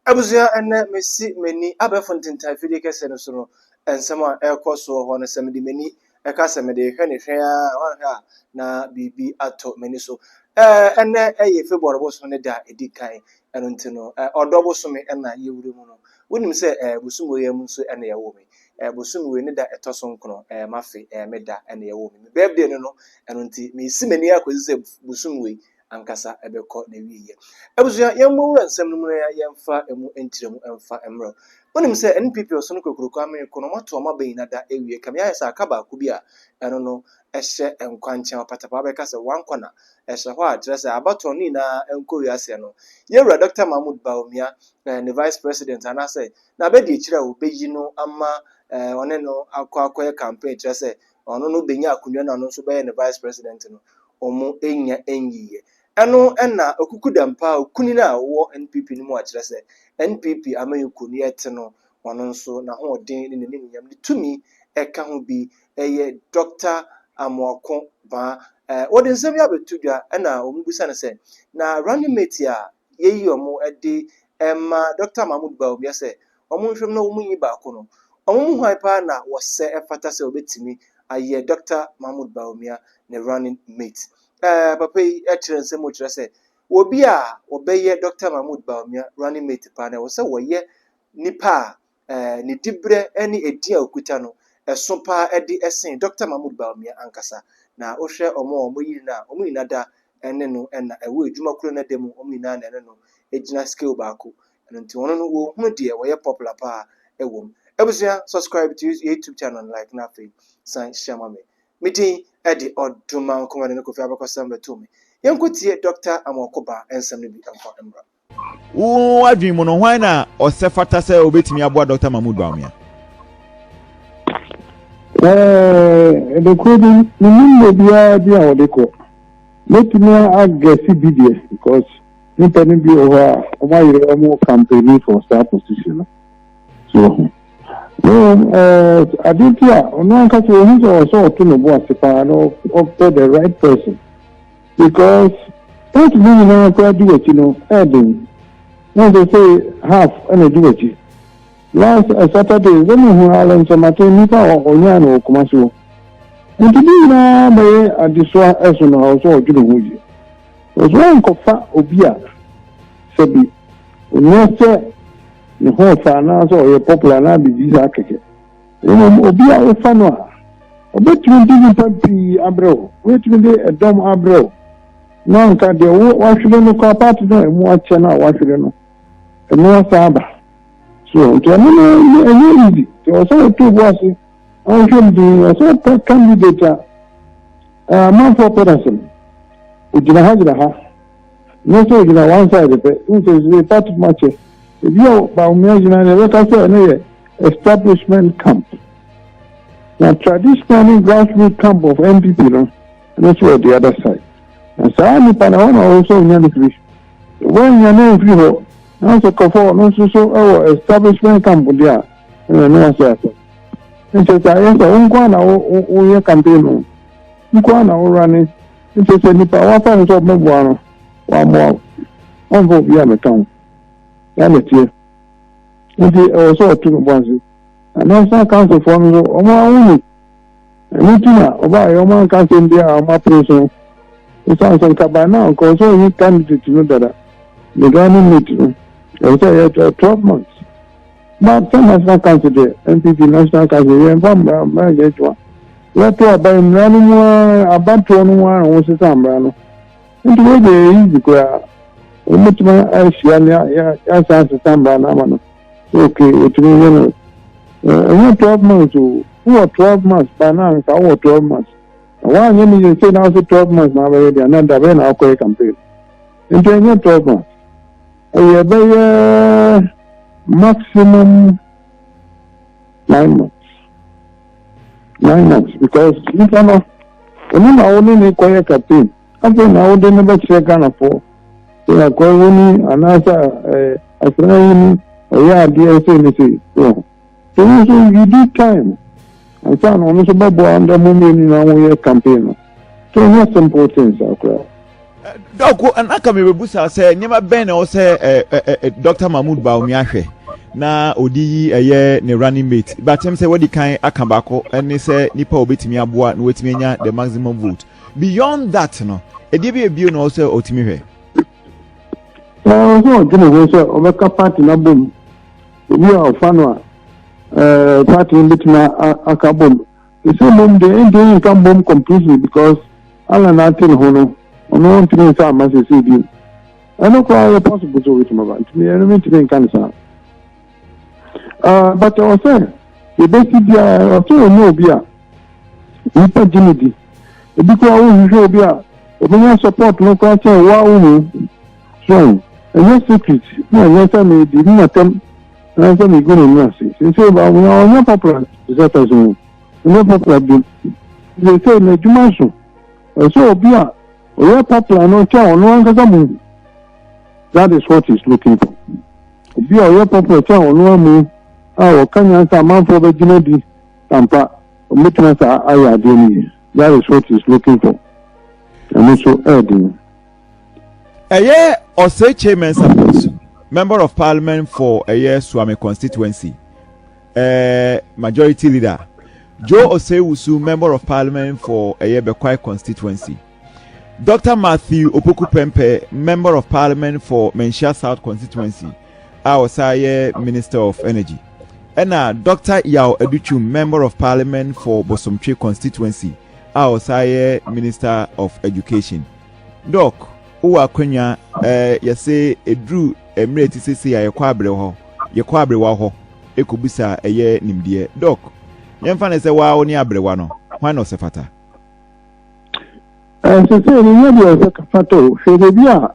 Abusua, ɛnnɛ mesi m'ani abɛɛfo ntentan afidie kɛseɛ no so no nsɛm a ɛrekɔ soɔ hɔ no, sɛ mede m'ani ka sɛ mede rehwɛ no hwɛ ara a, woanhwɛ a na biribi atɔ m'ani so. Ɛnnɛ yɛ February bosome no da a ɛdi kan, ɛno nti no, ɔdɔ bosome na yɛwura mu no. Wonim sɛ bosome wei ara mu nso na yɛwoo me. Bosome wei ne da ɛtɔ so nkron, m'afe, me da na yɛwoo me. Me birthday no no, ɛno nti meresi m'ani akɔsi sɛ bosome wei ankasa bɛkɔ n'awieeɛ. Abusua, yɛmmɔ wura nsɛm no mu na yɛmfa ɛmu nkyerɛmu mfa mmrɛ. Wonim sɛ NPP ɔsono kokuroko amee ko no, wɔato wɔn abɛn nyina da awie. Kame ayɛ sɛ aka baako bi a ɛno no hyɛ nkwankyɛn. Ɔpatapaa bɛka sɛ one corner hyɛ hɔ a kyerɛ sɛ abatoɔ no nyinaa nkɔ wie aseɛ no, yɛwura Dɔkta Mahmood Bawumia, ne Vice President anaasɛ n'abadiakyire a wɔbɛyi no ama ɔne no akɔ akɔyɛ campaign kyerɛ sɛ na ɔno no benya akonnwa na ɔno nso bɛyɛ ne vice president no, wɔannya nyiye. Ɛno na okukudam paa okunini a ɔwɔ NPP no mu a kyerɛ sɛ NPP amanyɔkuo no yɛte no, ɔno nso n'ahoɔden ne n'animuonyam, ne tumi ɛka ho bi yɛ Doctor Amoako Baa. Wɔde nsɛm yi abɛto dwa na wɔbisa no sɛ, na running mate a yɛyi wɔn de ma Dɔkta Mahmoud Bawumia sɛ wɔnhwɛ mu na wɔnyi baako no, wɔn mu hwan paa na wɔsɛ ɛfata sɛ wɔbɛtumi ayɛ Dɔkta Mahmoud Bawumia ne running mate? Ɛɛ papa yi kyerɛ nsɛm mu kyerɛ sɛ obi a wɔbɛyɛ Dɔkta Mahmoud Bawumia running mate paa no, ɛwɔ sɛ wɔyɛ nipa a eh, ne diberɛ ne edin a ɔkuta no, ɛso paa de sen Dɔkta Mahmood Bawumia ankasa. Na wohwɛ wɔn a wɔyiri no a, wɔn nyinaa da ne no na ɛwɔ adwuma koro no da mu, wɔn nyinaa na ɛne no gyina scale baako. Ɛno nti wɔn no wɔhunu deɛ wɔyɛ popular paa wɔ mu. Abusua, subscribe to this YouTube channel and like na afei san hyia ma me. Me din de Ɔdomankomadan Kofi Abakɔsɛm Bɛtoo me. Yɛnkɔtie Dɔkta Amoako Ba nsɛm no bi nkɔ mmra. Wo adwene mu no, hwan na ɔsɛ fata sɛ obetumi aboa Dɔkta Mahmoud Bawumia? Ɛɛ, nokorɛ bi, menim obiara bi a wɔde kɔ. Mɛtumi agɛse bi deɛ, because nipa no bi wɔ hɔ a, wɔayere wɔn campaigning for saa position no. So wɔho. Mmom, ɛɛ, ade nti a, ɔno ankasa wɔhu sɛ ɔsɛ ɔto ne bo ase paa na ɔpɛ the right person. Because part no nyinaa koraa di w'akyi no ɛyɛ den na sɛ sɛ half ɛna di w'akyi. Last Saturday sɛ me hu Allen Kyɛmaten nipa a ɔnyaa no wɔ Kumasi hɔ nti ne nyinaa bɛyɛ adesoa ɛso no ɛwɔ sɛ ɔdwene ho yie ɛwɔ sɛ ɔnkɔfa obi a sɛ bi onyɛ sɛ ne ho ɔfa anaasɛ ɔyɛ popular anaa biribi saa kɛkɛ. Mmom, obi a wofa no a, obetumi de nnipa pii abrɛ wo, obetumi de ɛdɔm abrɛ wo, na anka deɛ wo wahwere no koraa part no a emu akyɛ no a wahwere no, ɛno asan aba. So, nti ɛno no ɛnyɛ ɛnyɛ easy. Nti ɛwɔ sɛ woto bo ase na wohwɛ mu dinn. Ɛwɔ sɛ wopɛ candidate a ɛɛ amanfoɔ pɛ n'asɛm, ogyina ha gyina ha. Nyɛ sɛ ogyina one side pɛ, wohu sɛ ɛsɛ sɛ yɛfa to mu akyɛ. Ebia Bawumia gyina nea yɛbɛka sɛ ɛno yɛ establishment camp. Na traditionally grassroot camp of NPP no, ɛno nso wɔ the other side. Na saa nipa na ɛhɔ na ɔwɔ sɛ onya no firi. Wɔanya no amfiri hɔ, nanso kɔfɔ ɔno nso so wɔ establishment camp deɛ a, ɛno ɛno ase asɛm. Nkyɛ sɛ ayɛ sɛ wo nko ara na woyɛ campaign no, wo nko ara na wo running Nti sɛ nipa wafa no sɛ ɔbɛboa no wammoa wo ɔmfa obi a meka ho saa na ɛteɛ nti ɛwɔ sɛ ɔto no bɔ ase na national councilfoɔ no nso wɔn ahohu ɛno ti na ɔbaayɛ wɔn anka asɛm bi a wɔn apere so ɛsan sɛ nka by now nka ɔsɛ ɔyi candidate no dada the Ghana meet no ɛwɔ sɛ ɛyɛ twelve months Malta National Council deɛ, NPP National Council, yɛmfa mmara mmara nyɛ adwuma. Yɛto aba yi, mmara no mu ara, abatoɔ no mu ara na wɔsesa mmara no. Nti wei deɛ ɛyɛ easy koraa. Wɔbɛtumi ahyia ne yɛasan asesa mmara no ama no. Ok, wɔtumi yɛ no. Ɛnyɛ 12 months o, wowɔ 12 months ba na anka wowɔ 12 months. Na woanyɛ ne yɛ sei na wose 12 months na abɛyɛ deɛ, na dabɛn na akɔyɛ campaign. Nti ɛnyɛ 12 months. Ɛyɛ bɛyɛ maximum nine months. Nine months because nipa no ɛno na wo ne ne kɔyɛ captain afei na wode no bɛkyerɛ Ghanafoɔ sɛ akɔyɛ wo ni anaasɛ asra wo ni ɔyɛ adeɛ sɛ ne sɛ wɔ Ebi nso you need time ansa na wɔn nso bɛboa ndɛ mo mmienu na wɔyɛ campaign no so ɛnyɛ simple things akora. dɔko ɛna ka mi bɛ busa sɛ nneɛma bɛn na ɛwɔ sɛ ɛ ɛ ɛ dr mahmood baomi ahwɛ na odi yi ɛyɛ ne running mate batem sɛ wɔdi kan aka baako ɛne sɛ nipa a obetumi aboa na wɔatumi anya the maximum vote beyond that no ɛdeɛ bi ebio na ɔwɔ sɛ ɔtumi hwɛ. ɛɛ ɔsɛ ɔdwene ho sɛ ɔbɛka party na bom. Ebi a ɔfa no a, ɛɛ party no betumi aka bom. Esi mmom deɛ ɛnti ne nka bom completely because Allah na ate ne ho no, ɔno ntumi nsa ama sese bi. Ɛno koraa yɛ possible so wetumi ba. Ntumi ɛno mi ntumi nka ne saa. Ɛɛ but ɔsɛ yɛbɛsi biara ɔsɛ ɔnyɛ obi a nipa gye ne di. Ebi koraa wohwehwɛ obi a obenya support no koraa kyɛn wo a wo mu. Hwɛn, ɛnyɛ sekit na nyansa na edi me atɛm anaasɛ migu m'ani ase. Seesei ba, na ɔnyɛ pɔpla te sɛ tɛsɛ o, ɔnyɛ pɔpla bio. Seesei n'adwuma so, ɛsɛ sɛ obi a ɔyɛ pɔpla no kyɛ ɔno ankasa mu. That is what he's looking for. Obi a ɔyɛ pɔpla kyɛ ɔno amu a ɔka nyansa amanfoɔ bɛgyina di ampa, ɔmɛtumi asa ayɛ adeɛ no yie. That is what he's looking for. Ɛno so ɛɛden. ɛyɛ Oseche Mensah Bonsu, Member of Parliament for ɛyɛ Suame constituency, ɛɛ Majority Leader, Joe Osei-Wusu, Member of Parliament for ɛyɛ Bekwai constituency, Dr. Matthew Opoku Pɛmpɛ, Member of Parliament for Manhyia South constituency, a ɔsan yɛ Minister of Energy, ɛna Dr. Yaw Adutwum, Member of Parliament for Bosomtwe constituency, a ɔsan yɛ Minister of Education. Doc, wo wɔ akwannya ɛɛ yɛ se eduru mmerɛ ɛte sese a yɛkɔ abrɛ hɔ, yɛkɔ abrewa hɔ ɛkɔbisa ɛyɛ nimdeɛ. Doc, yɛmfa no sɛ wo ara wo ne abrewa no, hwan na ɔsɛ fata? Ɛɛ sese no nyɛ deɛ ɔsɛ fata o, hwɛ baabi a.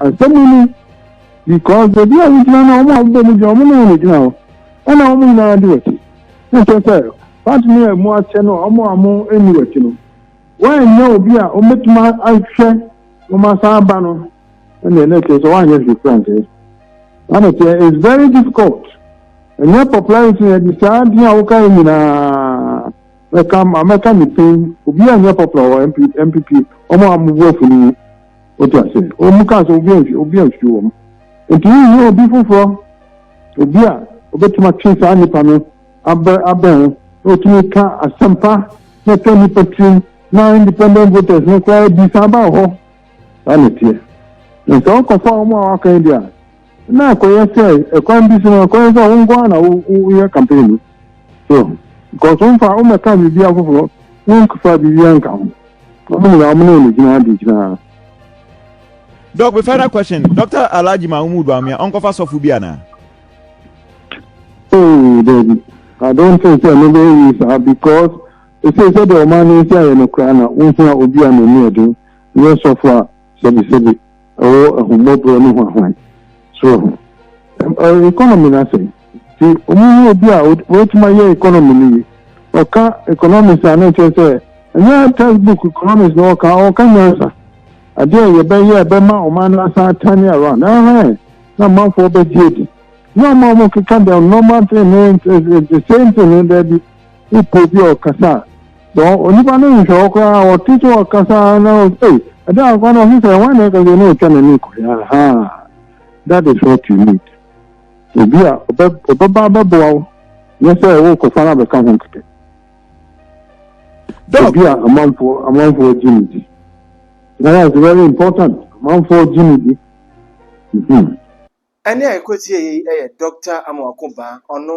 Asɛm no ni, because baabi a wogyina no, wɔn a wɔbɔ mu gyina, wɔn ne wɔn gyina hɔ. Ɛna wɔn nyinaa de wɔte. Na kyerɛ sɛ, part no a ɛmu akyɛ no, wɔn a wɔn nni wɔte no, wɔanyɛ obi a wɔbɛtumi ahwɛ wɔn asan aba no, ɛna ɛna kyerɛ sɛ wɔanyɛ hwee kura nkyɛn. Ana kyerɛ, it's very difficult. Ɛnyɛ popularity na ɛde saa adi a woka yɛ nyinaa. Mɛka, mɛka ne pin, obi a nyɛ popular wɔ MPP, wɔn a wɔn bo afu no mu. Wote ase? Wɔn kaa sɛ obi ansi obi ansi wɔn. Nti wohia obi foforɔ, obi a obetumi atwe saa nipa no abɛ abɛn ho na otumi ka asɛmpa na ɛka nipa tirim na independent voters no koraa bi saa ba wɔ hɔ. Saa na ɛteɛ. Na sɛ wokɔfa wɔn a wɔaka yi deɛ a, na akɔyɛ sɛ ɛkwan bi so no akɔyɛ sɛ wo nko ara na woyɛ campaign no so because womfa wommɛka biribi afoforɔ womfa biribi anka ho wɔn nyinaa wɔn ne wɔn gyina ade gyinaa. Doc, my final question. Dr. Alaji Mahmoud Bawumia, Onkofa Sofu bi ana? Oh, David. I don't think so. Maybe you sir because it says that the man is here in Ukraine. Won't you be an Indian? Yes, Sofu. Sebi, sebi. ɛwɔ ahummɔborɔ ne hwanhwan soro ho. Ɛɛ economy no asɛn. Nti wɔn mu obi a wɔatumi ayɛ economy no yi, ɔka economics a na ɛkyerɛ sɛ ɛnyɛ textbook economics na ɔka, ɔka nyansa. Adeɛ a yɛbɛyɛ a ɛbɛma ɔman no asan atane around. Ɛhɛn, na amanfoɔ bɛgye adi. Nyɛ wɔn a wɔkeka the normal thing no, the same thing no, daabi. Wopɛ obi a ɔkasa a, So onipa no nhwɛ wo koraa a, ɔte sɛ ɔkasa na ɔse ei, ɛda nkwa na ɔse sɛ wɔn na ɛka sɛ na ɔtwa n'ani kɔ yɛ ahaa. That is what you need. Obi a ɔbɛba abɛboa wo nyɛ sɛ wokɔfa no abɛka ho kɛkɛ. Obi a amanfoɔ amanfoɔ gye ne di. That is very important. Amanfoɔ gye ne di. Mm-hmm. Ɛnɛ a ɛkɔsiiɛ yɛ yi yɛ Doctor Amoako Baa, ɔno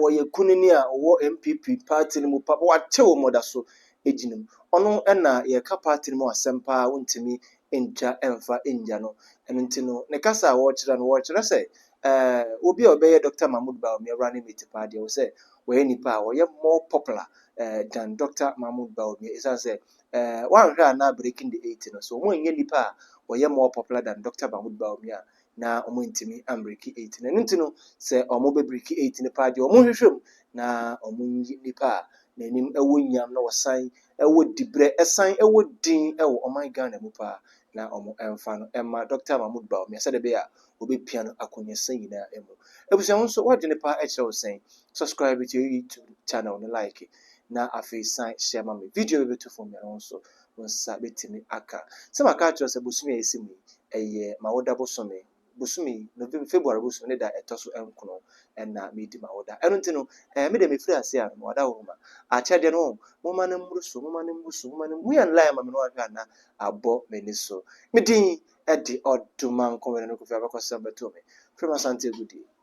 wɔyɛ kunini a ɔwɔ NPP party no mu pa pa, wate wɔ mɔda so gyina mu. Ɔno na yɛka party no mu asɛm pa ara wontumi ntwa mfa ngya no. Ɛno nti no ne kasa a wɔkyerɛ no wɔkyerɛ sɛ eh, obi a ɔbɛyɛ Doctor Mahmood Bawumia running mate paa deɛ ɛwɔ sɛ wɔyɛ nipa a ɔyɛ more popular eh, than Doctor Mahmood Bawumia ɛsiane sɛ eh, wɔanhwɛ a na breaking the eight no so wɔn nyɛ nipa a ɔyɛ more popular than Doctor Mahmood Bawumia a na wɔantumi ambreki eight no. Ɛno nti no, sɛ wɔbɛbreki eight no paa deɛ, wɔnhwehwɛ mu na wɔnyi nnipa a n'anim wɔ nyam na ɔsan wɔ dibrɛ san wɔ din wɔ ɔman Ghana mu paa na wɔmfa no mma Dɔkta Mahmood Bawumia sɛdeɛ ɛbɛyɛ a wɔbɛpia no akɔneɛsã nyinaa mu. Abusua wo nso w'adwene paa kyerɛ wo sɛn? Subscribe to your YouTube channel no like na afei san share ma me. Video bɛbɛtu fam mmiɛnsa wo nso wo nsa bɛtumi aka. Sɛ maka akyerɛ wo sɛ bosome a ɛsi mu yi, ɛyɛ m'awoda bosome, bosome yi, November, February bosome ne da a ɛtɔ so nkono na meredi m'awoda. Ɛno nti no, ɛɛ, me deɛ mefiri aseɛ a, mewɔ adawoma. Akyɛdeɛ no, oh, momma no mmoro so, momma no mmoro so, momma no, Mui and Lye ama me no anhwɛ a na abɔ m'ani so. Me din de Ɔdomankɔ Wene no Kofi Abakɔsɛm bɛtoo me, frɛ me Asante Agudie.